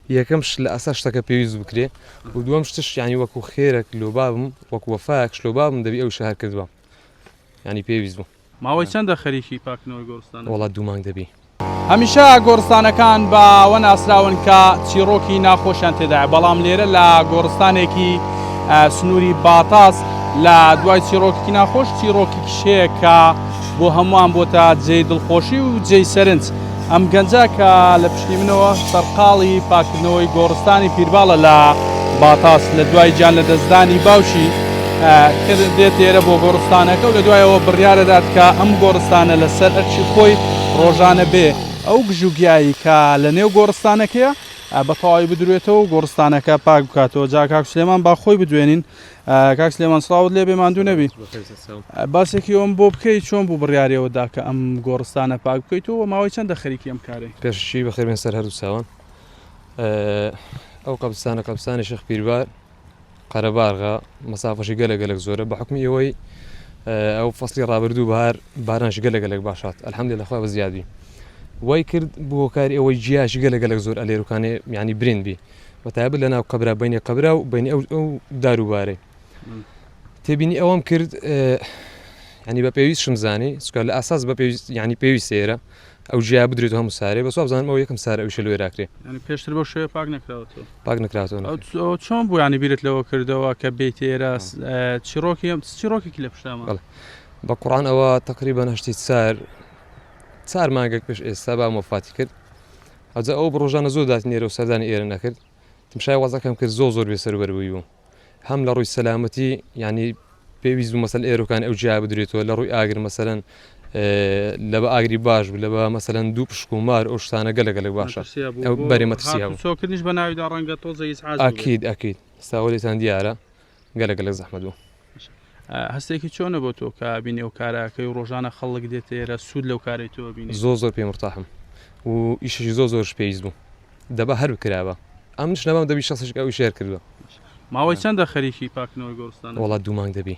یەکەم شت لە ئاسا شتەکە پێویست بکرێ و دووەم شتش یعنی وەکو خێرەک لۆ بابم وەکو وەفایەکش لۆ بابم دەبی ئەویش هەر کردبام یعنی پێویست بوو. ماوەی چەندە خەریکی پاکردنەوەی گۆڕستانەکەی؟ وەڵا دوو مانگ دەبی. هەمیشە گۆڕستانەکان بە ئەوە ناسراون کە چیڕۆکی ناخۆشیان تێدایە بەڵام لێرە لە گۆڕستانێکی سنووری باتاس لە دوای چیڕۆکێکی ناخۆش چیڕۆکێکیش هەیە کە بۆ هەمووان بۆتە جێی دڵخۆشی و جێی سەرنج. ئەم گەنجە کە لە پشتی منەوە سەرقاڵی پاککردنەوەی گۆڕستانی پیرباڵە لە باتاس، لە دوای گیان لەدەستدانی باوکی کرد دێت ئێرە بۆ گۆڕستانەکە و لە دوای ئەوە بڕیارەدات کە ئەم گۆڕستانە لە سەر ئەرکی خۆی ڕۆژانە بێ ئەو گژوگیایی کە لە نێو گۆڕستانەکەیە بە تەواوی بدروێتەوە و گۆڕستانەکە پاک بکاتەوە. جا کاک سلێمان با خۆی بدوێنین. کاک سلێمان سڵاوت لێبێ ماندوو نەبی باسێکی ئەوم بۆ بکەیت چۆن بوو بڕیارەوە دا کە ئەم گۆڕستانە پاک بکەیت و ماوەی چەندە خەریکی ئەم کارێ پێششی بەخێبێن سەر هەردوو چاوان ئەو قەبستانە قەبستانی شخ پیربار قەرەبارغا مەسافەشی گەلە گەلک زۆرە بە حکمی ئەوەی ئەو فەسلی ڕابردوو بار بارانش گەلە گەلک باشات ئەلحەمدی لەخوا بە زیادی وای کرد بۆ کاری ئەوەی جیاش گەلە گەلک زۆر ئەلێرکانێ میانی برین بی بە تایبەت لە ناو قەبرا بینی قەبرا و بینی ئەو ئەو داروبارەی تێبینی ئەوەم کرد ینی بە پێویست شم زانی سکە لە ئاساس بە پێویست ینی پێویست سێرە ئەو جیا بدرێت هەموو سارێ بە سوابزانم ئەو یەکەم سار ئەوش لێراکرێ پێشتر بۆ شوێ پاک نکراوەوە پاک نکراتەوە چۆن بوویانی بیرت لەوە کردەوە کە بیت ئێرە چیرۆکی ئەم چیرۆکێکی لە پشتامە بە قڕان ئەوە تقریبا هەشتی سار چار مانگێک پێش ئێستا با مۆفاتی کرد ئەوجا ئەو ڕۆژانە زۆر داتی نێرەو سەردانی ئێرە نەکرد تمشای وەزعەکەم کرد زۆر زۆر بێ سەروبەر بووی بووم هەم لە ڕووی سەلامەتی یعنی پێویست بوو مەسەل ئێرۆکان ئەو جیا بدرێتەوە لە ڕووی ئاگر مەسەرەن لە بە ئاگری باش بوو لە بە مەسەرەن دوو پشک و مار ئەو شتانە گەلە گەلک باشە بەرێ مەترسییان سۆکردنیش بە ناویدا ڕەنگە تۆزە ئاکید ئەکید ساوەێتان دیارە گەلەک گەلەک زەحمەت بوو. هەستێکی چۆنە بۆ تۆ کە بینی ئەو کارە ئەکەی و ڕۆژانە خەڵک دێتە ئێرە سوود لەو کارەی تۆ ئەبینێ؟ زۆر زۆر پێی مورتاحم و ئیشێکی زۆر زۆرش پێویست بوو دەبا هەر بکرابا ئەمنیش نەمام دەبی شەسیش ئەو ئیشەی هەر کردوە. ماوەی چەندە خەریکی پاککردنەوەی گۆڕستانەکەی؟ وەڵا دوو مانگ دەبی.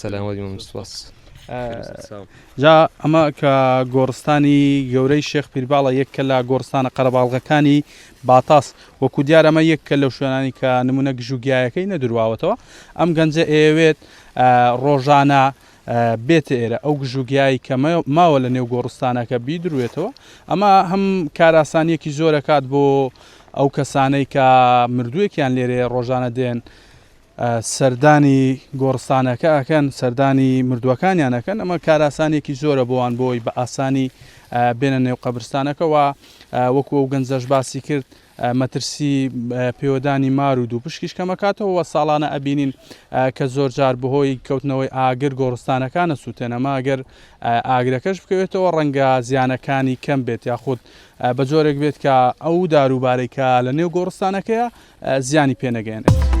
سەلامەت مەمنون سپاس جا ئەمە کە گۆڕستانی گەورەی شێخ پیرباڵە یەککە لە گۆڕستانە قەرەباڵغەکانی باتاس وەکو دیارەمە یەککە لەو شوێنانی کە نمونە گژوگیایەکەی نەدرواوەتەوە ئەم گەنجە ئەیەوێت ڕۆژانە بێتە ئێرە ئەو گژوگیایی کە ماوە لە نێو گۆڕستانەکە بیدروێتەوە ئەمە هەم کاراسانیەکی زۆرەکات بۆ ئەو کەسانەی کە مردووێکیان لێرێ ڕۆژانە دێن سەردانی گۆڕستانەکە ئەکەن، سەردانی مردووەکانیان ئەکەن، ئەمە کارئاسانیەکی زۆرە بۆوان بۆی بە ئاسانی بێنە نێو قەبرستانەکە و وەکو ئەو گەنجەش باسی کرد مەترسی پێوەدانی مار و دوو پشکیش کەمەکاتەوە و ساڵانە ئەبینین کە زۆر جار بەهۆی کەوتنەوەی ئاگر گۆڕستانەکانە سووتێنەما گەر ئاگرەکەش بکەوێتەوە ڕەنگە زیانەکانی کەم بێت یاخود بە جۆرێک بێت کە ئەو داروبارەی کە لە نێو گۆڕستانەکەیە زیانی پێ نەگەیەنێت.